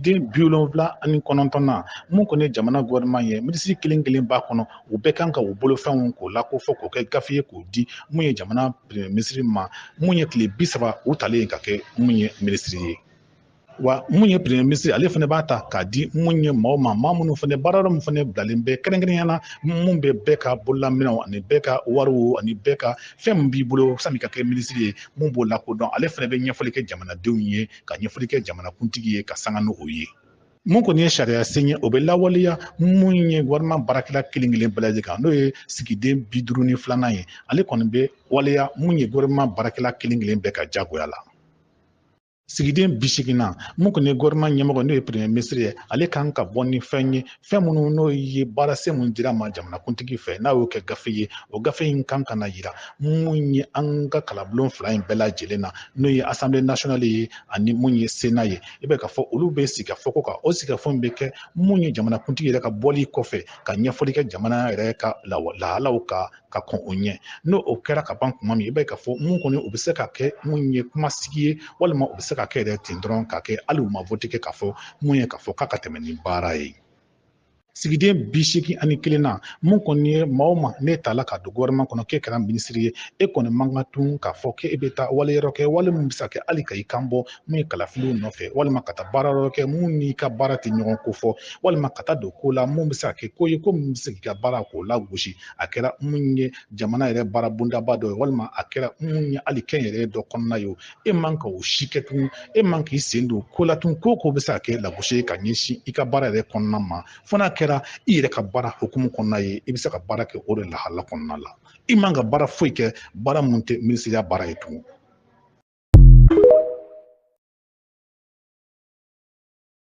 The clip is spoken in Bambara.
den bi wolonwula ani kɔnɔntɔn na mun kɔni jamana gouvernement ye minisiri kelen kelen b'a kɔnɔ u bɛɛ kan ka u bolofɛnw k'o la ko fɔ k'o kɛ gafe ye k'o di mun ye jamana premier minisiri ma mun ye tile bi saba u talen ka kɛ mun ye minisiri ye wa mun ye premier minisiri ale fana b'a ta k'a di mun ye maaw ma maa minnu fana baara baara mun fana bilalen bɛ kɛrɛnkɛrɛnnenya na mun bɛ bɛɛ ka bololaminɛw ani bɛɛ ka wariw ani bɛɛ ka fɛn min b'i bolo sani ka kɛ minisiri ye mun b'o lakodɔn ale fana bɛ ɲɛfɔli kɛ jamanadenw ye ka ɲɛfɔli kɛ jamanakuntigi ye ka sanga n'o ye mun kɔni ye sariya sen ye o bɛ lawaleya mun ye gouvernement baarakɛla kelen kelen bɛɛ lajɛlen kan n'o ye sigiden bi duuru ni filanan ye ale kɔni bɛ waleya mun ye gouvernement baarakɛla kelen kelen bɛɛ ka jagoya la sigiden bi seegin na mun kɔni ye gouvernement ɲɛmɔgɔ n'o ye premier minisiri ye ale kan ka bɔ ni fɛn ye fɛn minnu n'o ye baarasen mun dira a ma jamanakuntigi fɛ n'a y'o kɛ gafe ye o gafe in kan ka na yira mun ye an ka kalabulon fila in bɛɛ lajɛlen na n'o ye asanbile nasionali ye ani mun ye sena ye i bɛ ka fɔ olu bɛ sigikafɔ k'o kan o sigikafɔ bɛ kɛ mun ye jamanakuntigi yɛrɛ ka bɔli kɔfɛ ka ɲɛfɔli kɛ jamana yɛrɛ ka lahalaw ka ka kɔn o ɲɛ n'o o kɛra ka ban kuma min i b'a ye k'a fɔ mun kɔni u bɛ se ka kɛ mun ye kuma sigi ye walima u bɛ se ka kɛ yɛrɛ ten dɔrɔn ka kɛ hali u ma vote kɛ k'a fɔ mun ye k'a fɔ k'a ka tɛmɛ ni baara ye sigiden bi seegin ani kelen na mun kɔni ye maa o maa n'e tala ka don gouvernement kɔnɔ k'e kɛra minisiri ye e kɔni man ka tun k'a fɔ k'e bɛ taa wale yɔrɔ kɛ wale min bɛ se ka kɛ hali ka i kan bɔ mun ye kalafiliw nɔfɛ walima ka taa baara yɔrɔ kɛ mun n'i ka baara tɛ ɲɔgɔn ko fɔ walima ka taa don ko la mun bɛ se ka kɛ ko ye ko min bɛ se k'i ka baara k'o lagosi a kɛra mun ye jamana yɛrɛ baara bondaba dɔ ye walima a kɛra mun ye hali kɛnyɛrɛye dɔ kɔnɔna ye e man ka o si kɛ tun e man k'i sen don ko la tun ko ko bɛ se ka kɛ lagosi ye ka ɲɛsin i ka baara yɛrɛ kɔnɔna ma fo n'a kɛra i yɛrɛ ka baara hukumu kɔnɔna ye i bɛ se ka baara kɛ o de lahala kɔnɔna la i man ka baara foyi kɛ baara mun tɛ minisiriya baara ye tun